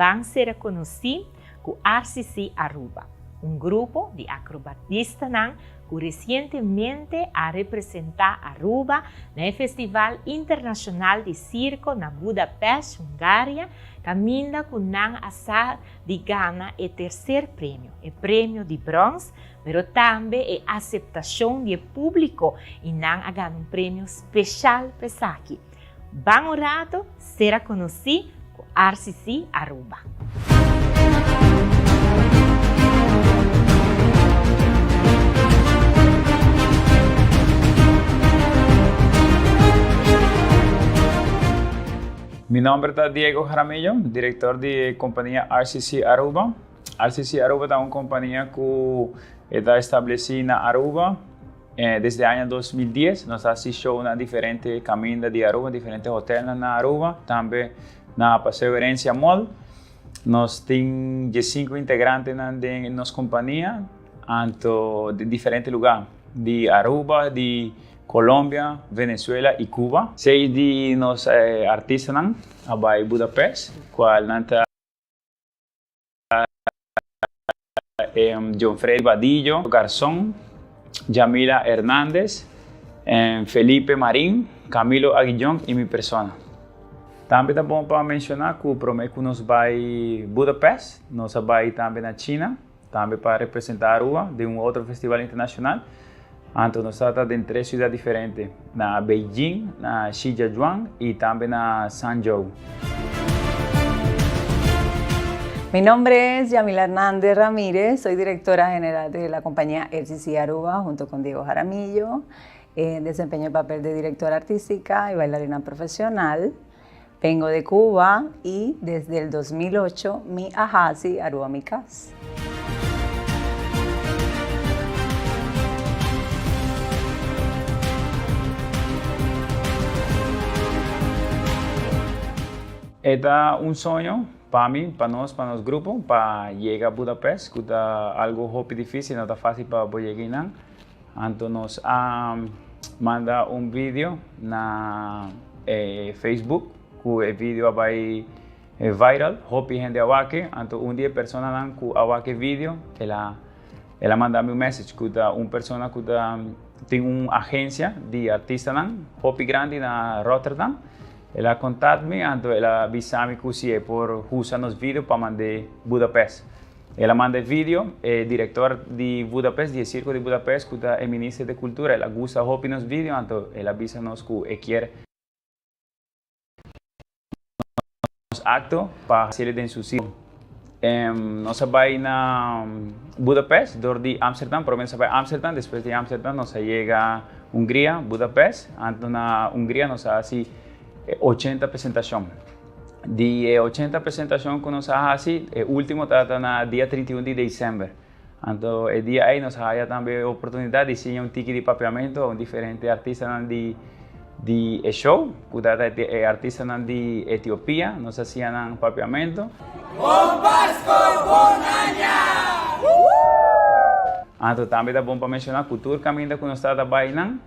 Ban sera konosí ku RCC Aruba, un grupo di akrobatistanan ku resientemente a representá Aruba na e Festival Internashonal di Sirko na Budapest, Hungaria, kaminda ku nan a sa di gana e tercer premio, e premio di brons, pero tambe e aceptacion di e publico y nan a gana un premio special pa esaki. Ban un rato ser a conoci cu RCC Aruba. Mi nomber ta Diego Jaramillo, director di e compania RCC Aruba. RCC Aruba ta un compania cu e ta estableci na Aruba desde aña dos mil dies. Nos ta haci show na diferente caminda di Aruba, diferente hotelnan na Aruba, tambe na Paseo Herencia Mall. Nos tin diesinco integrantenan den nos compania, anto di diferente lugar di Aruba, di Colombia, Venezuela y Cuba. Seis di nos artistanan a bay Budapest, cual nan ta John Freddy Badillo Garzon, Jamila Hernandez, Felipe Marin, Camilo Aguillon y mi persona. Tambe ta bon pa menciona cu prome cu nos bay Budapest, nos a bay tambe na China. tambe pa representa Aruba den un otro festival internacional. Anto nos a ta den tres ciudad diferente, na Beijing, na Shijiazhuang y tambe na Hangzhou. Mi nombre es Yamila Hernandez Ramirez, soy directora general de la compañía RCC Aruba junto con Diego Jaramillo. Desempeño el papel de directora artística y bailarina profesional. Bengo de Cuba y desde el dos mil ocho mi a haci Aruba mi cas. E ta un soño pa mi, pa nos, pa nos grupo pa yega Budapest cu ta algo hopi dificil, no ta facil pa bo yega einan. Anto nos a manda un video na e Facebook cu e video a bay viral, hopi hende a wak e, anto un di e personanan cu a wak e video el a el a manda mi un message cu ta un persona cu ta tin un agencia di artistanan hopi grandi na Rotterdam, el a contact mi anto el a bisa mi cu si e por usa nos video pa mand'e Budapest. El a manda e video, e director di Budapest, di e Circo di Budapest cu ta e Minister de Cultura, el a gusta hopi nos video anto el a bisa nos cu e kier nos acto pa hacele den su circo. Nos a bay na Budapest door di Amsterdam, prome nos a bay Amsterdam, despues di Amsterdam nos a yega Hungria, Budapest, anto na Hungria nos a haci ochenta presentacion. di e ochenta presentashon ku nos a hasi, e último ta ta na dia trinta i un di desèmber. Anto e dia ei nos a haya tambe e oportunidat di siña un tiki di papiamentu a un diferente artistanan di di e show, ku ta ta e artistanan di Etiopia, nos a siña nan papiamentu. Bon Pasko, Bon Aña! Anto tambe ta bon pa menshoná ku tur kaminda ku nos ta ta bainan,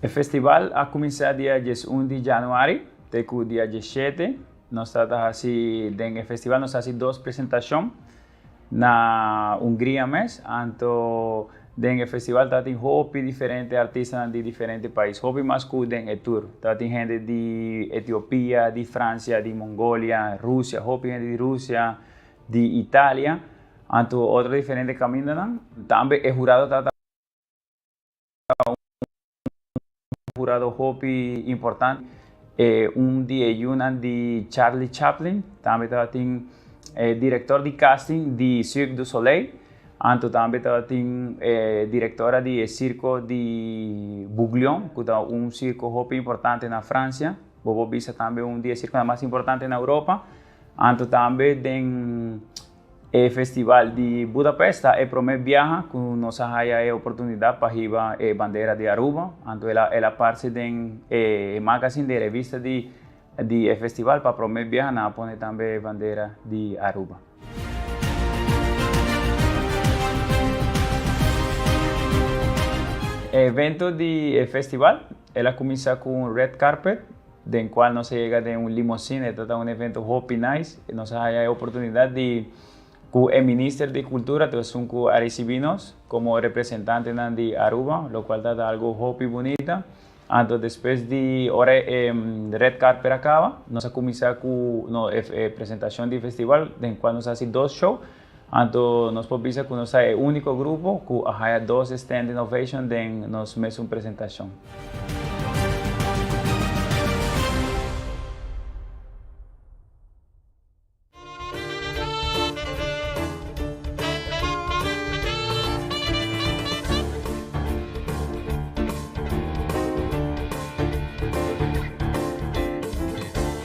E festival a kuminsá dia dies un di januari te ku dia dies shete. Nos ta ta hasi, den e festival nos ta hasi dos presentashon na Hungria mes. Anto den e festival ta tin hopi diferente artistanan di diferente pais, hopi mas ku den e tur. Ta tin hende di Etiopia, di Fransia, di Mongolia, Rusia, hopi hende di Rusia, di Italia, anto otro diferente camindonan, tambe e jurado ta un jurado hopi importante, e un di e yunan di Charlie Chaplin, tambe tabatin e director di casting di Cirque du Soleil, anto tambe tabatin e directora di e circo di Bouglion, cu ta un circo hopi importante na Francia, bobo bisa tambe un di e circonan mas importante na Europa. Anto tambe den e festival di Budapest ta e prome biaha cu nos a haya e oportunidad pa hiba e bandera di Aruba. Anto el a, el a parce den e magazine di e revista di, di e festival. Pa prome biaha nan a pone tambe e bandera di Aruba. E evento di e festival, el a cuminsa cu un red carpet. den cual nos a yega den un limosine, e tata un evento hopi nice, y nos a haya e oportunidad di cu e Minister di Cultura ta esun cu a ricibi nos como representantenan di Aruba, locual tata algo hopi bunita. Anto despues di ora e red carpet a caba, nos a cuminsa cu e presentacion di festival, den cual nos a haci dos show. Anto nos por bisa ku nos ta e úniko grupo ku a haya dos Stand Innovation den nos mesun presentashon.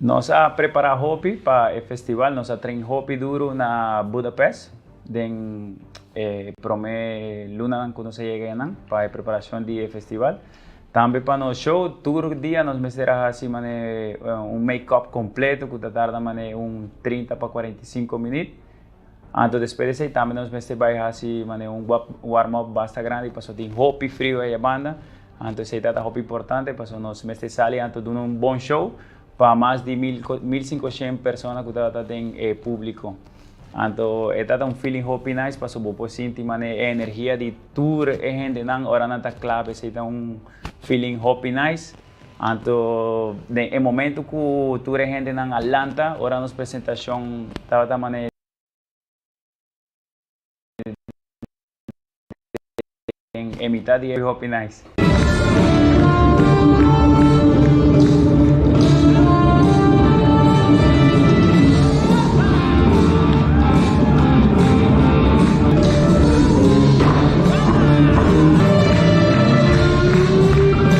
Nos a prepará hopi pa e festival, nos a train hopi duru na Budapest den e promé lunanan ku nos a yega einan pa e preparashon di e festival. Tambe pa nos show, tur dia nos mester a hasi manera un make-up kompleto ku ta tarda manera un trinta pa kuarenta i sinku minüt. Anto despues di esei tambe nos mester bai hasi manera un warm up basta grandi paso tin hopi frio aya banda. Anto esei ta ta hopi importante paso nos mester sali anto duna un bon show pa mas di mil mil sinkoshen persona ku ta ta den e publico. Anto e ta ta un feeling hopi nice paso bo por sinti manera e energia di tur e hendenan ora nan ta kla pa esei ta un feeling hopi nice. Anto den e momento cu tur e hendenan a lanta ora nos presentacion tabata manera den e mitad di e hopi nice.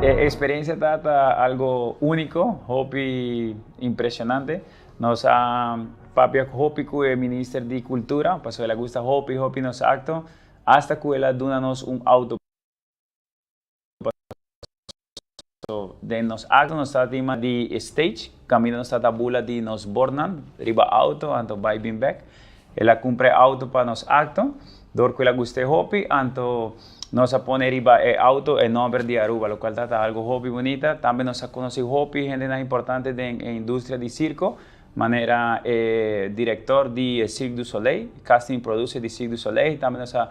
E experiencia ta ta algo unico, hopi impresionante. Nos a papia hopi cu e Minister di Cultura, pasobra el a gusta hopi hopi nos acto, hasta cu el a duna nos un auto. Paso den nos akto nos ta tima di e stage, kaminda nos ta ta bula di nos bornan riba auto anto bai bin bek. El a kumpra e auto pa nos akto, dor ku el a gusta e hopi, anto nos a pone riba e auto e nòmber di Aruba, lokual ta ta algu hopi bunita. Tambe nos a konosí hopi hendenan importante den e industria di sirko, manera e direktor di e Cirque du Soleil, casting y producer di Cirque du Soleil, tambe nos a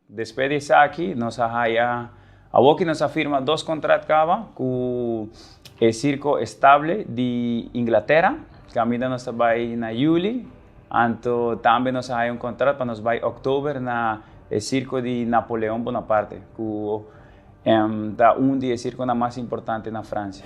Despues di esaki nos a haya awor ki nos a firma dos contrat caba cu e Circo Estable di Inglaterra, caminda nos ta bay na Juli, anto tambe nos a haya un contrat pa nos bay October na e Circo di Napoleon Bonaparte, cu ta un di e circonan mas importante na Francia.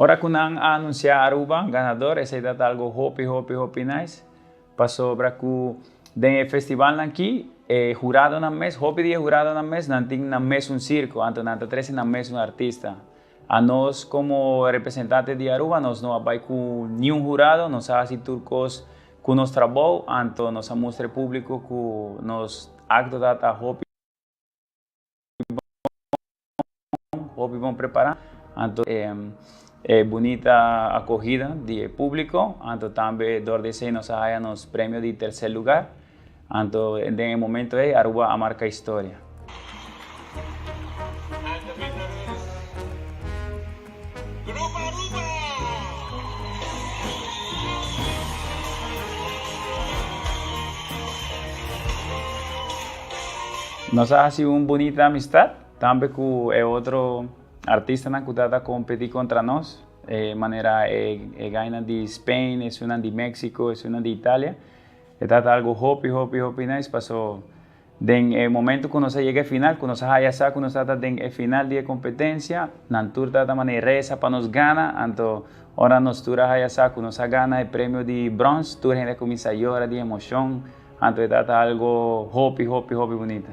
Ora cu nan a anuncia Aruba ganador esey ta ta algo hopi hopi hopi nice pasobra cu den e festivalnan aki e huradonan mes hopi di e huradonan mes nan tin nan mesun circo anto nan ta trece nan mesun artista a nos como representante di Aruba nos no a bay cu niun hurado nos a haci tur cos Ku nos trabou anto nos a mustra e públiko ku nos aktodat ta hopi bon, hopi bon prepará. Anto e bunita akohida di e públiko, anto tambe dor di esei nos a haya nos premio di tersé lugar. Anto den e momento ey Aruba a marca historia. Nos a haci un bunita amistad tambe cu e otro artistanan cu ta ta competi contra nos, manera e gainan di Spain, esunnan di Mexico, esunnan di Italia. E ta ta algu hopi, hopi, hopi nice, paso den e momento cu nos a yega e final, cu nos a haya sa cu nos ta ta den e final di e competencia, nan tur ta ta maneresa pa nos gana, anto ora nos tur a haya sa cu nos a gana e premio di bronce, tur hende a cuminsa yora di emocion, anto e ta ta algu hopi, hopi, hopi bunita.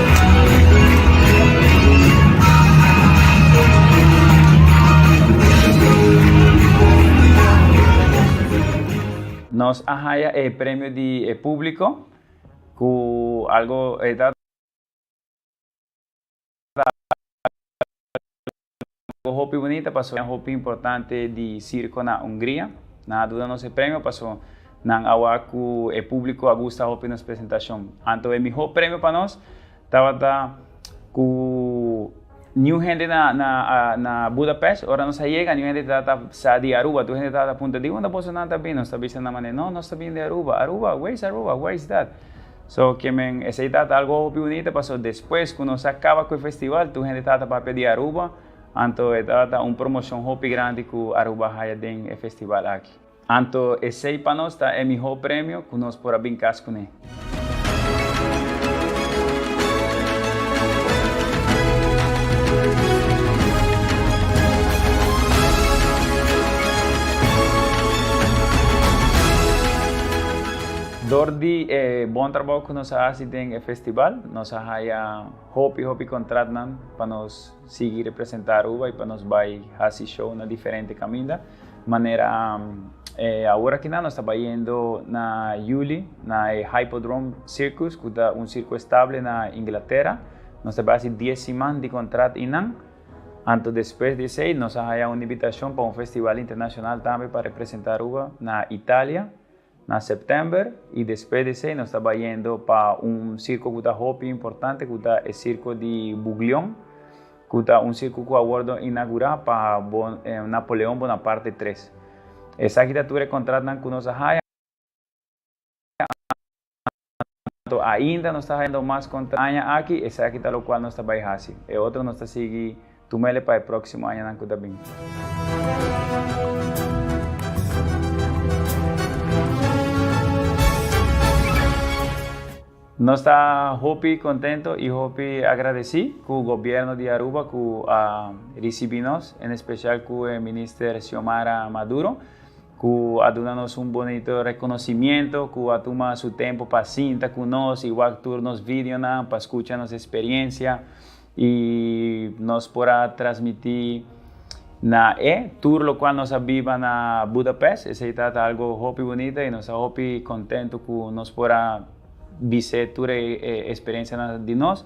Nos a haya e premio di e publico cu algo e ta Bo hopi bunita paso nan hopi importante di circo na Hungria. Nan a duna nos e premio paso nan a wak cu e publico a gusta hopi nos presentacion. Anto e miho premio pa nos tabata cu niun hende na na Budapest. Ora nos a yega niun hende tabata sa di Aruba. Tur hende tabata punta di unda boso nan ta bini. Nos ta bisa nan manera, no, nos ta bini di Aruba. Aruba? Where is Aruba? Where is that? So ke men, esei tata algo hopi bunita paso despues ku nos a kaba ku e festival tur hende tata papia di Aruba, anto e tata un promoshon hopi grandi ku Aruba a haya den e festival aki. Anto esei pa nos ta e mihó premio ku nos por a bin kas kuné. Dor di e bon trabou ku nos a hasi den e festibal, nos a haya hopi hopi kontratnan pa nos sigui representá Aruba i pa nos bai hasi show na diferente kaminda. Manera awor akinan nos ta bayendo na yuli na e Hypodrome Circus, ku ta un sirko estable na Inglatera. Nos ta bai hasi dies siman di kontrat einan. Anto despues di esei nos a haya un ibitashon pa un festival internashonal tambe pa representá Aruba na Italia. Na September y despues di esey nos ta bay yendo pa un circo cu ta hopi importante cu ta e circo di Buglion cu ta un circo cu a wordo inagura pa Napoleon Bonaparte tres. Esaki ta tur e contratnan cu nos a haya Anto ainda nos ta hendo mas contra aña aki, esaki ta locual nos ta bay haci. E otro nos ta sigui tumele pa e proximo añanan cu ta bin. Nos ta hopi contento y hopi agradeci cu Gobierno di Aruba cu a ricibi nos, en especial cu e Minister Xiomara Maduro, cu a duna nos un bonito reconocimiento, cu a tuma su tempo pa sinta cu nos y wak tur nos videonan pa scucha nos experiencia y nos por a transmiti na e tur locual nos a biba na Budapest. Esey ta ta algo hopi bonito y nos ta hopi contento cu nos por a bise tur e experiencianan di nos.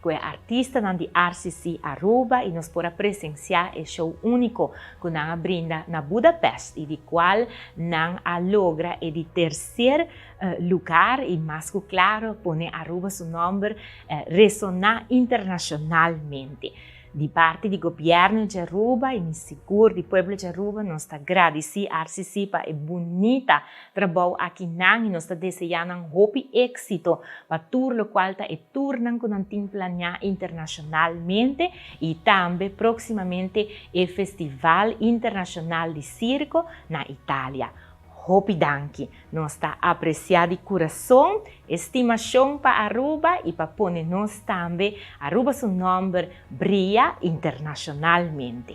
Cu e artistanan di RCC Aruba y nos por a presencia e show unico cu nan a brinda na Budapest y di cual nan a logra e di tercer lugar y mas cu claro pone Aruba su nomber resona internacionalmente. Di parti di Gobierno dje Aruba y mi sigur di pueblo dje Aruba nos ta gradici RCC pa e bunita Trabao aki nan y nos ta desea nan hopi exito pa tur locual ta e turnan cu nan tin planea internacionalmente y tambe proximamente e Festival Internacional di Circo na Italia. Hopi danki! Nos ta aprecia di curazon e stimacion pa Aruba y pa pone nos tambe Aruba su nomber bria internacionalmente.